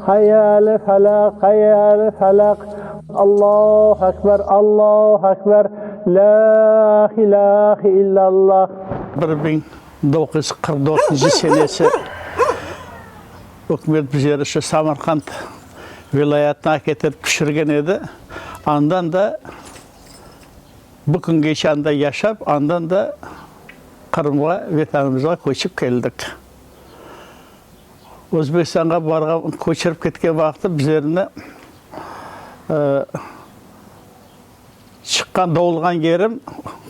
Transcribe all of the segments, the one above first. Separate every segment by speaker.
Speaker 1: Hayya ale falaq, hayya ale falaq, Allahu akbar, Allahu akbar, la ilahe illa Allah. Bir biñ doquz yüz qırq dörtünci senesi ükümet bize şu Samarqand vilâyetine aketirip tüşürgen edi. Andan da bu küngeçe anda yaşap, andan da Qırımğa, Vetanımızğa köçip keldik. Özbekistanğa barğan, köçirip ketken vaqıtı bizlerni çıqqan, doğulğan yerim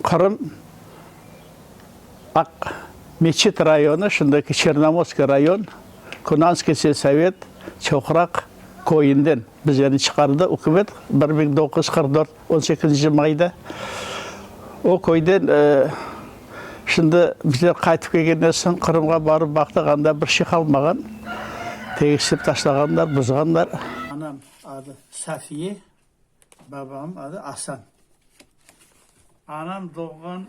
Speaker 1: Qırım, Aqmescit rayonı, şimdiki Çernomorskiy rayon, Kunanskiy selsovet, Çoqraq köyünden bizlerni çıqardı ükümet, bir biñ doquz yüz qırq dört. On sekizinci mayda o köyden şimdi bizler qaytıp kelgenden soñ Qırımğa barıp baqtıq, anda bir şey qalmağan. Tegisip taşlağanlar, buzğanlar. Anam adı Safiye, babam adı Asan. Anam doğğan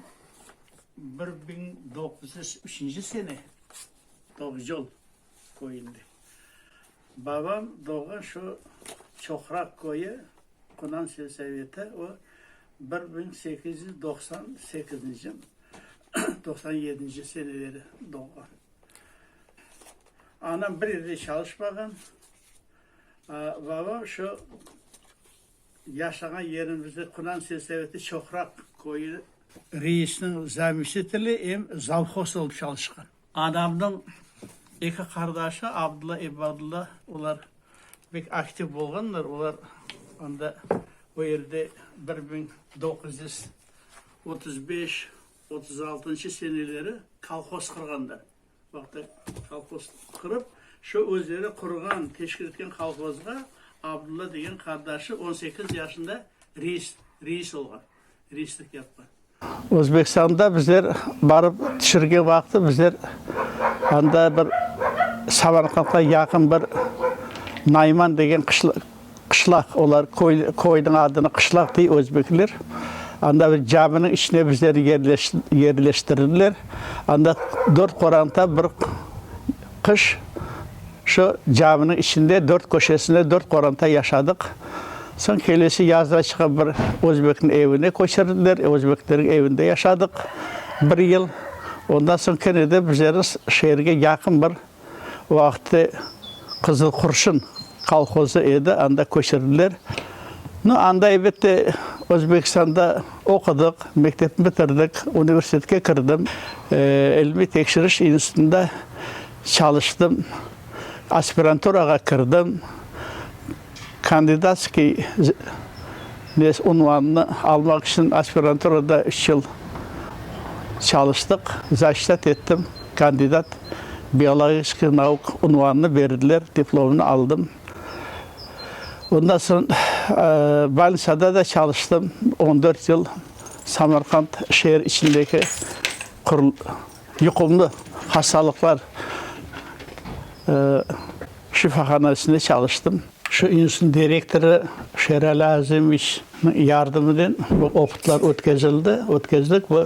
Speaker 1: bir biñ doquz yüz üçünci sene Toqjol köyünde. Babam doğğan şu Çoqraq köyü, Qunan selsaveti, o, bir biñ sekiz yüz doqsan sekizinci, doqsan yedinci seneleri doğğan. Anam bir yerde çalışmağan. Babam şu yaşağan yerimizde, Qunan selsaveti Çoqraq köyü, reisniñ zamişiteli, em zalhoz olıp çalışqan. Anamnıñ eki qardaşı Abdulla, İbadulla, olar bek aktiv bolğanlar, olar anda o yerde bir biñ doquz yüz otuz beş, otuz altınşı seneleri kolhoz qurğanlar. Vaqıtı kolhoz qurıp, şu özleri qurğan, teşkil etken kolhozğa Abdulla degen qardaşı on sekiz yaşında reis, reis olğan. reislik yaptı. Özbekistanda bizler barıp tişirgen vaqıtı bizler anda bir Samarqandqa yaqın bir Nayman degen qışlaq, olar köyniñ adını qışlaq dey özbekler. Anda bir caminiñ içine bizlerni yerleştirdiler. Anda dört qoranta bir. Qış şu caminiñ içinde dört köşesinde dört qoranta yaşadıq. Soñ kelesi yazda çıqıp bir özbekniñ evine köçirdiler, özbeklerniñ evinde yaşadıq bir yıl. Ondan soñ kene de bizlerni şeerge yaqın bir o vaqıtte Qızılqurşun kolhozı edi, anda köçirdiler. No, anda, elbette, Özbekistanda Oqudıq, mektepni bitirdik, universitetke kirdim, ilmiy tekşiriş institutında çalıştım, aspiranturağa kirdim, kandidatskiy unvanını almaq içün aspiranturada üç yıl çalıştıq, zaşitat ettim, kandidat biologiskiy nauk unvanını berdiler, diplomnı aldım. Ondan soñ Balnitsada da çalıştım, on dört yıl Samarqand şeer içindeki yuqumlı hastalıqlar şifahanasında çalıştım. Şu institutnıñ direktorı Şerali Azemiç. yardımınen bu opıtlar ötkezildi, ötkezdik ve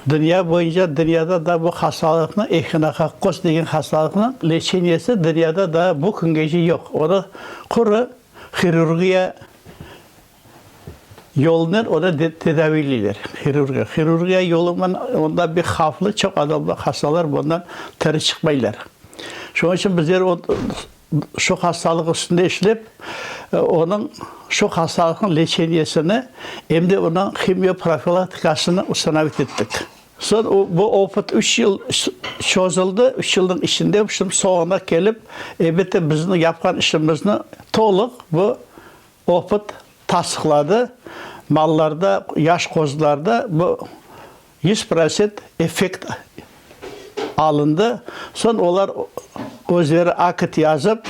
Speaker 1: dünya boyunca, dünyada da bu hastalıqnı, ehinokokkos degen hastalıqnıñ leçeniyesi dünyada daa bu küngece yoq. Onı quru hirurgiya yolunen onı tedaviyliler, hirurgiya. Hirurgiya yolunıñ ondan bir havflı, çoq adamlar, hastalar bundan tiri çıqmaylar. Şunıñ içün bizler Şu hastalıq üstünde işlep, onıñ şu hastalıqnıñ leçeniyesini, em de onıñ himioprofilaktikasını ustanovit ettik. Soñ bu opıt üç yıl çözüldi. Üç yılnıñ içinde şimdi soñuna kelip, elbette, bizniñ yapqan işimizni tolıq bu opıt tasdıqladı. Mallarda, yaş qozularda bu Yüz prosent effekt alındı. Soñ olar özleri akit yazıp,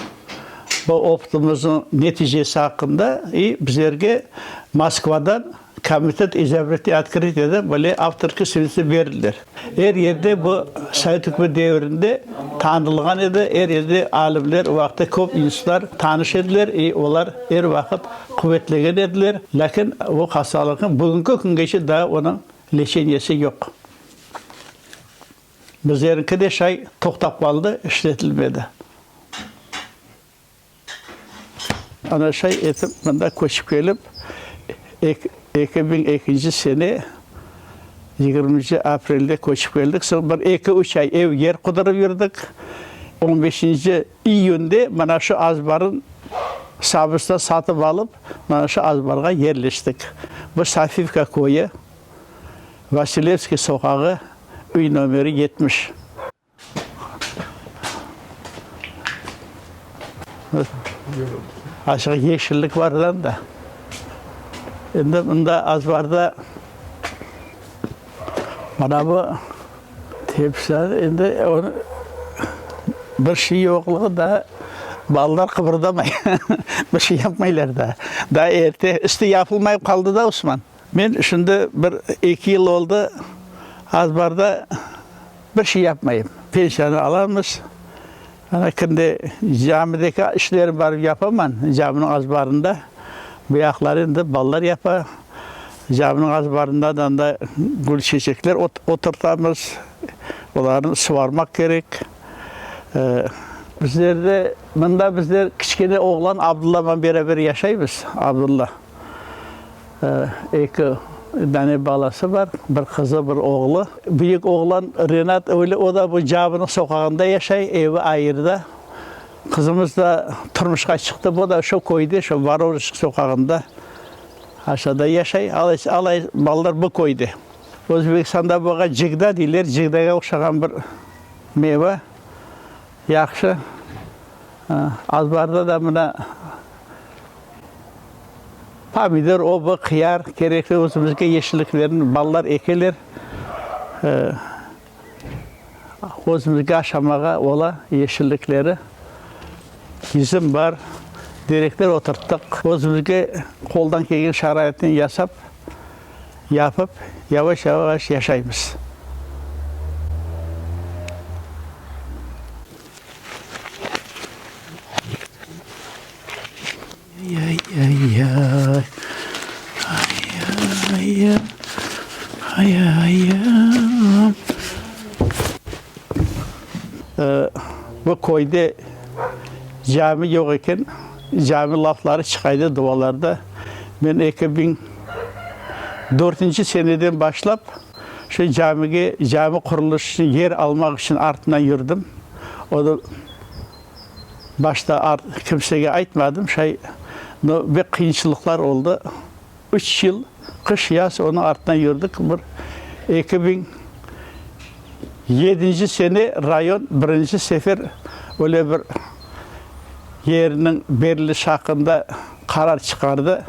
Speaker 1: bu opıtımıznıñ neticesi aqqında i bizlerge Moskvadan Komitet izobretniy otkritia da böyle avtorskiy svidetniye berildiler. Er yerde bu sovet ükümeti devirinde tanılğan edi, er yerde alimler o aqta köp institutlar tanış ediler i olar er vaqıt quvetlegen ediler. Lâkin o hastalıqnıñ bugünki küngeçe daa onıñ leçenyesi yoq. Bizleriñki de şay toqtap qaldı, işletilmedi. Ana şay etip mında köçip kelip, eki biñ ekinci sene yigirminci aprelde köçip keldik. Soñ bir eki-üç ay ev-yer qudırıp yürdik. On beşinci İyünde mana şu azbarın sabısına satıp alıp, mana şu azbarğa yerleştik. Bu Safivka köyü, Vasilevskiy soqağı, üy nomeri yetmiş. Aşağı yeşillik bar da anda. Endi mında azbarda mana bu. Tepişler, endi bir şey yoqluğu da, balalar qıbırdamay, bir şey yapmaylar da. Da erte, üstü yapılmayıp qaldı da, Osman. Men şimdi bir eki yıl oldı, az-bar da bir şey yapmayım. Pensiyanı alamız, Ana, şimdi camideki işlerni barıp yapaman, caminiñ azbarında. Bu yaqları endi balalar yapa. Caminiñ azbarında da anda gül, çeçekler oturtamız. Olarnı suvarmaq kerek. Bizlerde, mında bizler kiçkene oğlan Abdullaman beraber yaşaymız. Abdulla. Eki dane balası bar, bir qızı, bir oğlu. Büyük oğlan Renat öyle, o da bu Cabınıñ soqağında yaşay, evi ayırda. Qızımız da turmuşqa çıqtı, bu da şu köyde, şu Vorožsk soqağında aşağıda yaşay. Alay balalar bu köyde. Özbekistanda buğa cıgda deyler, cıgdağa oqşağan bir meyve, yahşı. Azbarda da mına Pomidor, oba, qıyar, kerekli özümizge yeşilliklerni, ballar ekeler. Özümizge aşamağa ola yeşillikleri. Üzüm bar, derekler oturttıq. Özümizge qoldan kelgen şaraitni yasap, yapıp, yavaş-yavaş yaşaymız. Bu köyde cami yoq eken, cami lafları çıqaydı duvalarda. Men eki biñ dörtünci seneden başlap, şu camige, cami qurulış içün yer almaq içün artınan yürdim. O da. Başta kimsege aytmadım, şay, no, bek qıyınçılıqlar oldı. Üç yıl qış, yaz onıñ artından yürdik. Bir eki biñ yedinci sene rayon birinci sefer öyle bir yerniñ beriliş aqqında qarar çıqardı.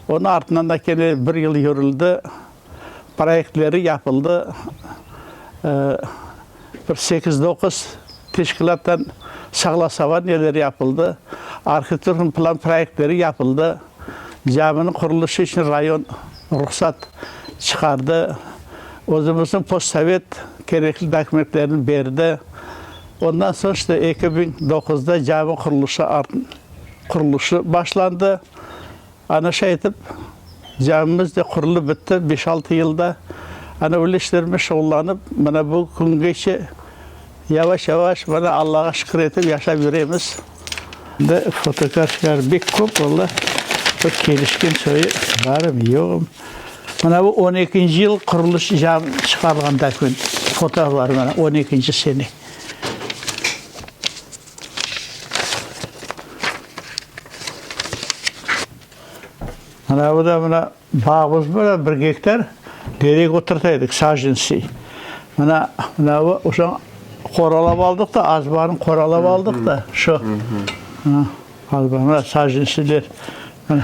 Speaker 1: Onıñ artından da kene bir yıl yürüldi. proyektleri yapıldı, bir sekiz-doquz teşkilâttan saglasovaniyeler yapıldı, arhitektornıñ plan proyektleri yapıldı, caminiñ quruluşu içün rayon ruhsat çıqardı, özümizniñ postsovet kerekli dokumentlerini berdi. Ondan soñ işte eki biñ doquzda cami quruluşu quruluşu başlandı. Ana şey etip, camimiz de qurulıp bitti, beş-altı yılda. Ana öyle işlermen şuğullanıp, mana bu küngeçe yavaş-yavaş, mana Allağa şükür etip yaşap yüremiz. Bizde fotografiyalar bek köp, valla, bir kelişken çoyu barım, yoğum. Mana bu on ekinci yıl qurulış cam çıqarılğan döküment, fotolar, mana on ekinci sene. Mına bu da mına bağımız bura bir gektar derek oturtaydık sacentsiy. Mına mına bu uşağı qoralap aldıq da az barın qoralap aldıq da şu. Mına az bar mına sacentsiyler. Mına.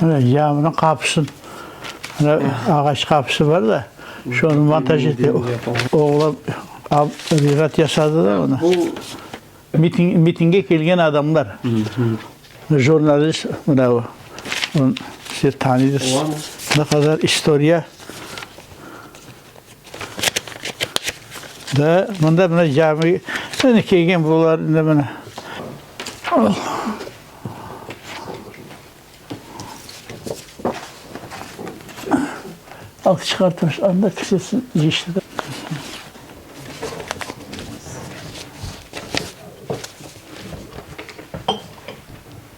Speaker 1: Mına camınıñ qapısın, ağaç qapısı bar da, şonı montaj ete. Oğlan rirat yasadı da onı. Mitinge kelgen adamlar, jurnalist, mına o, siz tanıysız, ne qadar istoriya. Da, mında mına cami, mına kelgen bunlar indi mına. Al, çıqar taş, anda kisesin yiyiştirdi.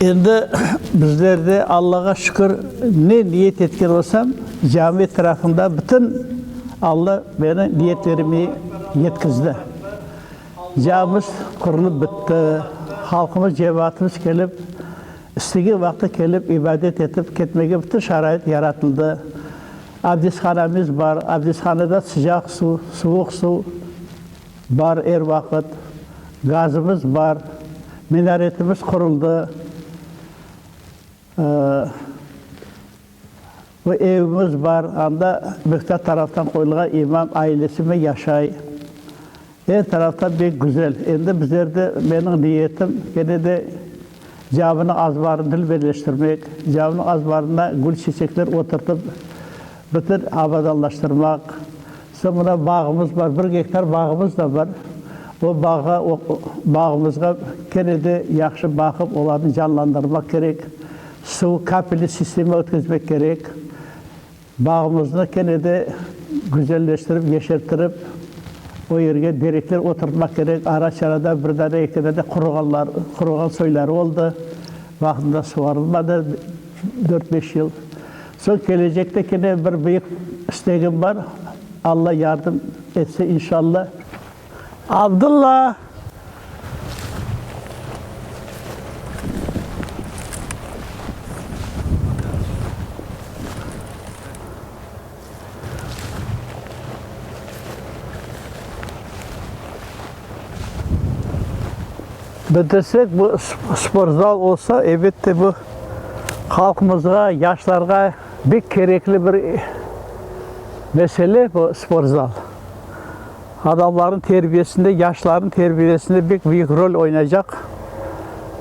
Speaker 1: Endi bizler de, Allağa şükür, ne niyet etken olsam, cami etrafında bütün Alla meni niyetlerime yetkizdi. Camimiz qurılıp bitti, halqımız, cemaatımız kelip, İstegen vaqtı kelip, ibadet etip ketmege bütün şarait yaratıldı. Abdeshanamiz bar, abdeshanada sıcaq suv, suvuq suv bar er vaqıt. Gazımız bar, minaretimiz quruldı. Bir evimiz bar, anda Mıhtar taraftan qoyulğan imam ailesimi yaşay. Er taraftan bek güzel. Endi bizlerde, meniñ niyetim, kene de caminiñ azbarını dülberleştirmek, caminiñ azbarına gül-çiçekler oturtıp, bütün abadanlaştırmaq, Soñ mına bağımız bar, bir gektar bağımız da bar. O bağğa, o bağımızğa kene de yahşı baqıp, olarnı canlandırmaq kerek. Suv, kapelniy sistema ötkizmek kerek. Bağımıznı kene de güzelleştirip, yeşerttirip, o yerge derekler oturtmaq kerek. Ara-çara da bir dane, eki dane quruğanlar, quruğan soyları oldı. Vaqtında suvarılmadı dört-beş yıl. Soñ kelecekte kene bir büyük istegim bar, Alla yardım etse inşalla. Abdulla! Bitirsek, bu sportzal olsa, elbette, bu halqımızğa, yaşlarğa bek kerekli bir mesele, bu sportzal. Adamlarnıñ terbiyesinde, yaşlarnıñ terbiyesinde bek büyük rol oynaycaq.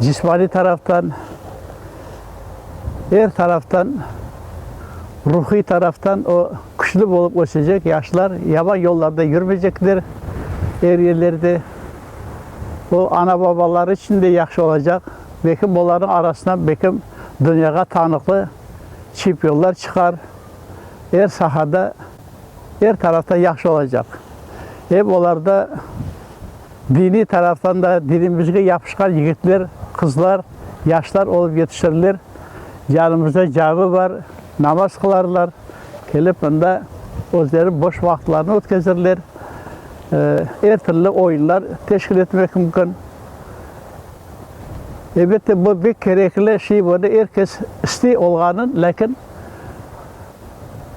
Speaker 1: Cismaniy taraftan, er taraftan, ruhiy taraftan o küçlü bolıp ösecek, yaşlar yaman yollarda yürmeycekler, er yerlerde. O, ana-babaları içün de yahşı olacaq, bekim olarnıñ arasından bekim dünyağa tanıqlı çempionlar çıqar, er sahada, er taraftan yahşı olacaq. Em olarda diniy taraftan da dinimizge yapışqan yigitler, qızlar, yaşlar olıp yetişirler. Yanımızda cami bar, namaz qılarlar, kelip mında özleri boş vaqıtlarını ötkezirler. Er tilli oyunlar teşkil etmek mümkün. Elbette, bu pek kerekli şey, bunı er kes istey olğanın, lâkin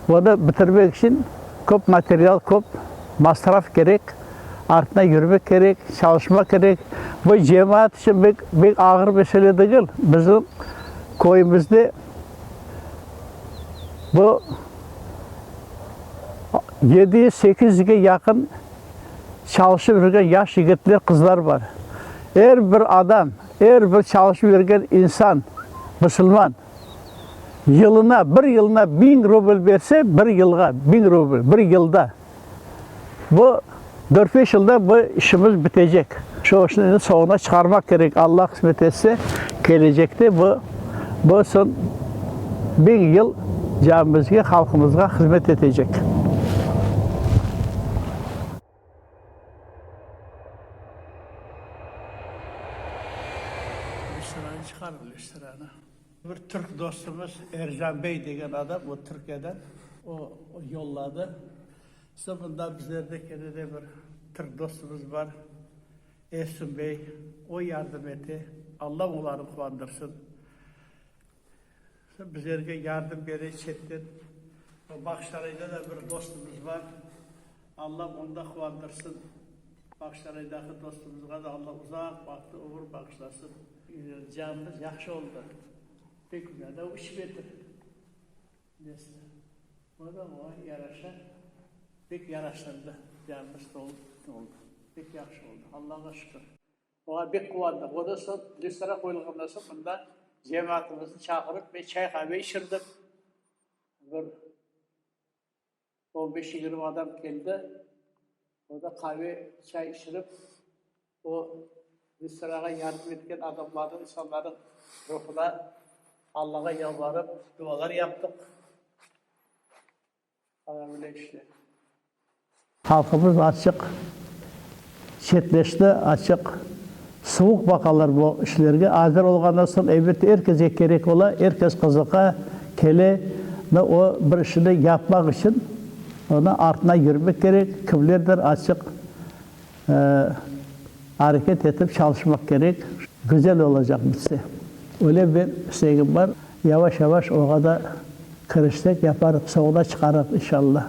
Speaker 1: bunı bitirmek içün köp material, köp masraf kerek, artına yürmek kerek, çalışmak kerek. Bu cemaat içün pek, pek ağır mesele degil. Bizim köyümizde bu Yedi yüz sekiz yüzge yaqın çalışıp yürgen yaş yigitler, qızlar bar. Er bir adam, er bir çalışıp yürgen insan, musulman, yılına, bir yılına biñ rubl berse, bir yılğa biñ rubl, bir yılda, bu Dört-beş yılda bu işimiz bitecek. Şu işni soñuna çıqarmaq kerek. Alla qısmet etse, kelecekte bu, bu son biñ yıl camimizge, halqımızğa hızmet etecek. Listranı çıqarıñ, listranı. Bir türk dostumız Erjan bey degen adam, o Türkiyeden, o yolladı. Soñunda bizlerde kene de bir türk dostumız bar, Efsun bey. O yardım ete. Alla olarnı quvandırsın. Bizlerge yardım bere çetten. Bağçarayda da bir dostumız bar. Alla onı da quvandırsın. Bağçaraydaki dostumızğa da Alla uzaq vaqıtlı ömür bağışlasın. Canımız yahşı oldı. Pek güzel. Daa üç metr. Neste, o da oña yaraşa pek yaraştırdı, yardımcı da oldı. Pek yahşı oldı, Allağa şükür. Oña bek quvandıq. Ondan soñ, restoran qoyulğandan soñ, mında cemaatımıznı çağırıp, men çay-qave içirdim. Bir. On beş, yigirmi adam keldi. Orda qave, çay içirip, o restoranğa yardım etken adamlarnıñ, insanlarnıñ ruhuna Allağa yalvarıp, dualar yaptıq. Ana, böyle işte. Halqımız açıq, Çetleşti, açıq, suvuq baqalar bu işlerge. Azır olğandan soñ, elbette, er kese kerek ola, er kes qızıqa, kele. Da o bir işini yapmaq içün onı artına yürmek kerek, kimlerdir açıq areket etip çalışmaq kerek. Güzel olacaq bitse. Öyle bir istegim bar. Yavaş-yavaş oğa da Kirişsek yaparıq, savda çıqarıq, inşallah.